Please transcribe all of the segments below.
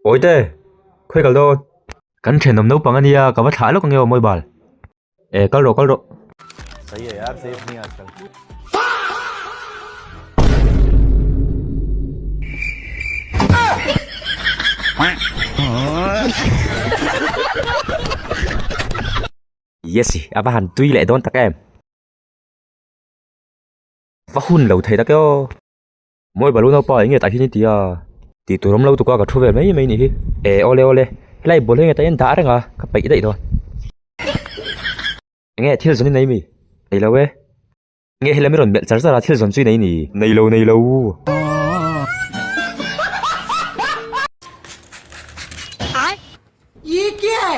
Awite, khawi kal dawn. Kan thenawm naupang a nia, ka va thlah lawk ange aw Mawibal. E, kal rawh, kal rawh. Yessy, a va han tui leh dawn tak em. Va hun lo thei ta kiau a, maw i Baluna pa enge tah hian i ti a? Tih tur awm lo tuk a, ka thu ve mai mai ni hi. E awle awle, helai bul hi heta hian dah reng a, ka peih daih dawn. Enge thil zawn i nei mi? Nei lo e. Enge hela mi rawn melh char char a, thil zawn chu i nei ni? Nei lo nei lo u. Ai! Ii kiae!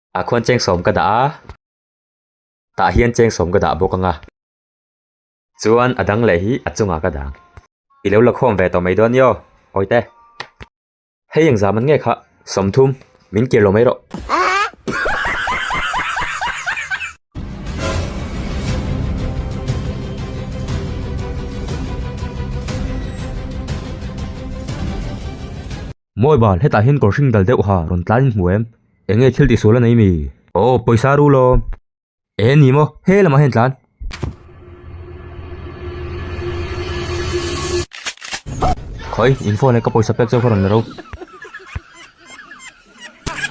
Ah khuan cheng sawm ka dah a, tah hian cheng sawm ka dah bawk anga. Chuan a dang leh hi a chungah ka dang. I lo la khawm ve tawh mai dawn i aw, Awite. Hei eng zaman nge kha, sawmthum, min kir lo mai rawh. Mawi bal, hetah hian kawr hring dal deuh ha rawn tlaiin hmu em? Eng nge thil tih sual a nei mi? Aw, pawisa a ru lo. Eng a ni maw? He lamah hian tlan. Khawi, in phone e ka pawisa pek chu ka rawn la ro.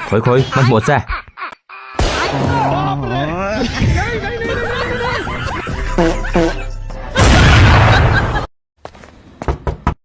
Khawi khawi, hmanhmawh che.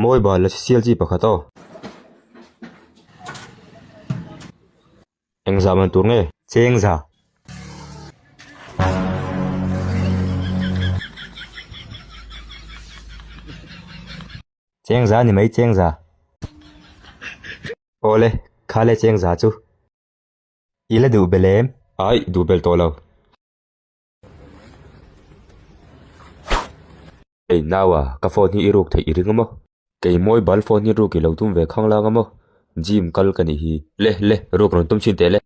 Mawi bal la sial chi pakhat aw. Eng zah man tur nge? Cheng zah. Cheng zah ni mai cheng zah. Aw le, kha le cheng zah chu. I la duh belem. Aih, duh bel tawh lo. Ei nau a, ka phone hi i ruk theih i ring a maw? Kei mobile phone hi ruk i lo tum ve khang lang a maw? Gym kal ka nih hi. Le, le, ruk rawn tum chin teh le.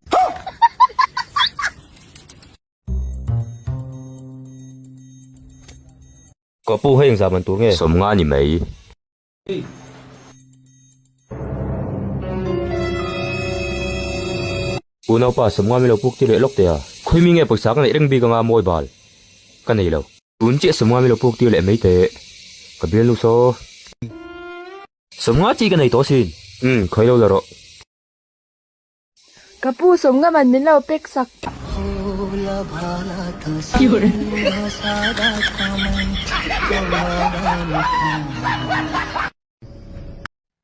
Ka pu, hei engzah man tur nge? Sawmnga ni mai. Pu Naupa, Sawmnga milo puk ti leh lawk teh a, khawi mi nge pawisa ka neih reng bik anga mawi bal ka nei lo. Tun chiah Sawmnga milo puk tir leh mai teh ka bial nu saw. Sawmnga chi ka nei tawh asin. Umm, khawi lo la rawh. Ka pu sawmngam an min lo pek sak.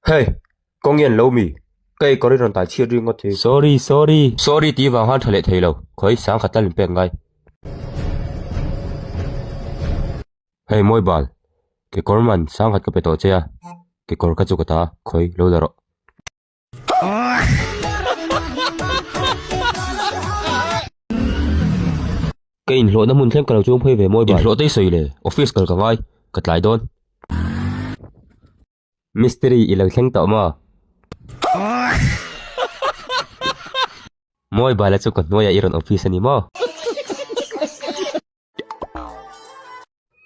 Hey! Khaw ngen lo mi? Ka ei kawr hi rawn tai chhiat ri ngawt hi. Sorry, sorry. Sorry tih vang han tha leh thei lo. Khawi sang khat lal in pek ngai. Hey Mawibal, kekawr man sang khat ka pe tawh che a, kekawr ka chu ka ta a, khawi lo la rawh. Ka inhlawhna hmun thleng ka lo chûng phei ve mawi bai. Inhlawhtei sawi le, office kal ka ngai, ka tlai dawn. Mistiri i lo thleng tawh maw? Mawi bai la chu ka hnuaia i rawn office a ni maw?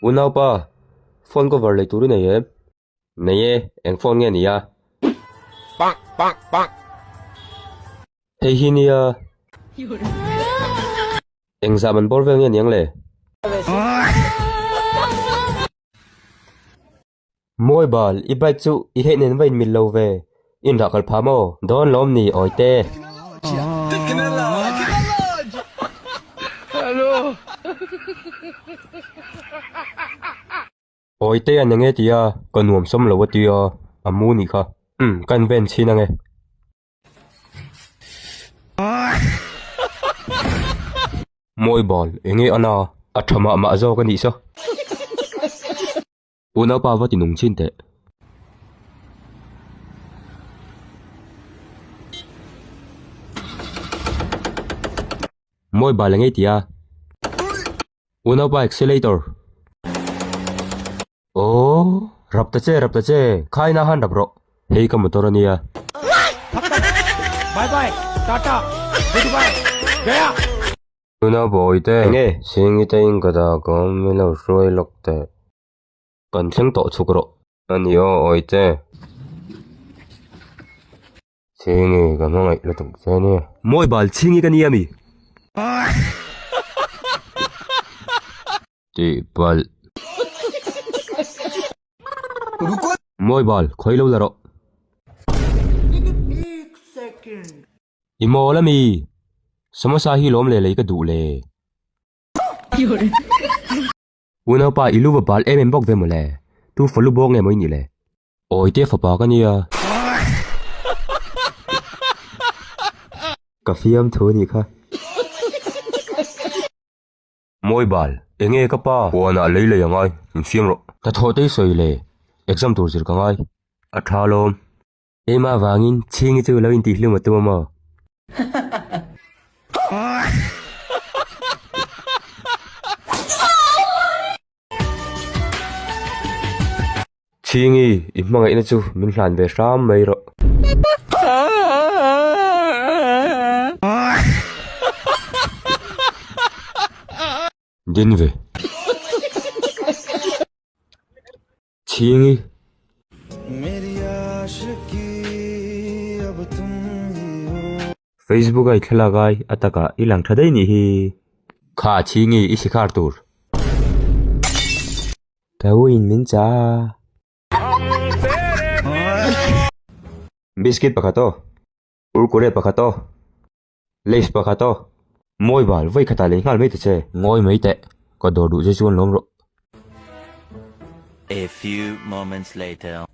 Unaupa, phone cover lei tur i nei em? Nei e, eng phone nge nia? Hei hi nia? Eng zam an bawr vel nge niang le? Mawi bal, i bike chu i heh nen va inmil lo ve. Inrah kal pha maw? Dawn lawm ni awite. Awi te a ni nge tia ka nuam sawm lo a ti a, a mu nih kha. Umm, ka invent chhin ange. Mawi bal, eng nge ana? A tha mah mah zawk a nih sa. U Naupa va ti nung chin teh. Mawi bal eng nge tia? U naupa accelerator. Aww rap ta che rap ta che khai na han rap rawh. Hei ka motor a nia. Bye bye tata goodbye gaya. Tuna bawi te. Eng e. Sing ita in ka da ka awm i lo hruai lawk teh. Kan thleng tawh chuk rawh. Ani aw awite. Chhingi ka hmangaih lutuk che ania. Mawi bal chhingi ka ni ami. Tih palh. Mawi bal khawi lo la rawh. I mawl ami. Samosa hi lawm leh lei ka duh le. U naupa i lu va bal em em bawk ve maw le. Tu falu bawk nge maw i nih le. Awi te fapa ka nia. Ka fiam thu anih kha. Mawi bal, enge ka pa? Puan ah lei lei a ngai, min fiam rawh. Ka thawh tei sawi le, exam tur zir ka ngai. A tha lawm. Ema avangin chhingi chu lo intih hlim a tum a maw? Chhingi, i hmangaihna chu min hlan ve hram mai rawh. Dinve. chhing i. Facebook a i thlalak ai a taka i lang tha daih nih hi. Kha a chhing i i sikhar tur. Ka u in min chah a. Biscuit pakhat aw. Kurkure pakhat aw. Lace pakhat aw. Mawi bal, vawi khatah lei nghal mai ta che. Ngawi mai teh, ka dawr duh zia chu an lawm rawh. A few moments later.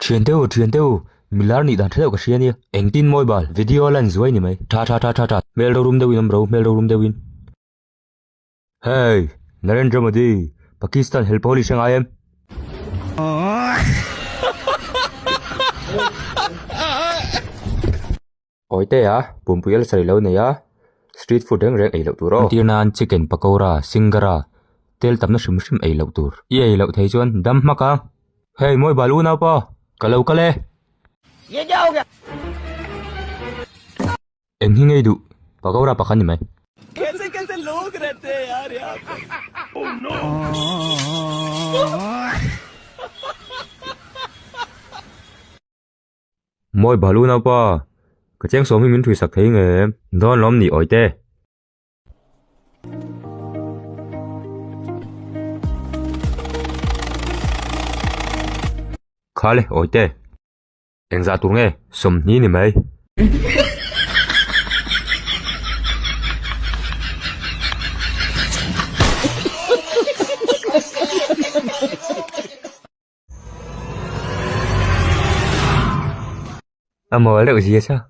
Thian teuh u, thian teuh u, milar nih dan tha deuh ka hria nia. Engtin mawi bal, video a lan zuai ni mai. Tha tha tha tha tha. Hmel rorum deuhin awm ro, hmel rorum deuhin. Hey! Narendra Modi, Pakistan hel pawh ni hre ngai em? Awite a, pumpui a la sa leh lo nei a, street food reng reng ei loh tur aw. An tirna an chicken pakora, singara, tel tamna hrim hrim ei loh tur. I ei loh thei chuan dam hmak ang. Hey mawi bal u naupa, ka lo kal e. Eng hi ngei duh pakora pakhat ni mai. Mawi bal u naupa, ka cheng sawm hi min thwi sak thei nge em? Dawn lawm ni awite. Kha le awite. Eng zah tur nge sawmhni ni mai. Emaw reuh zia sa.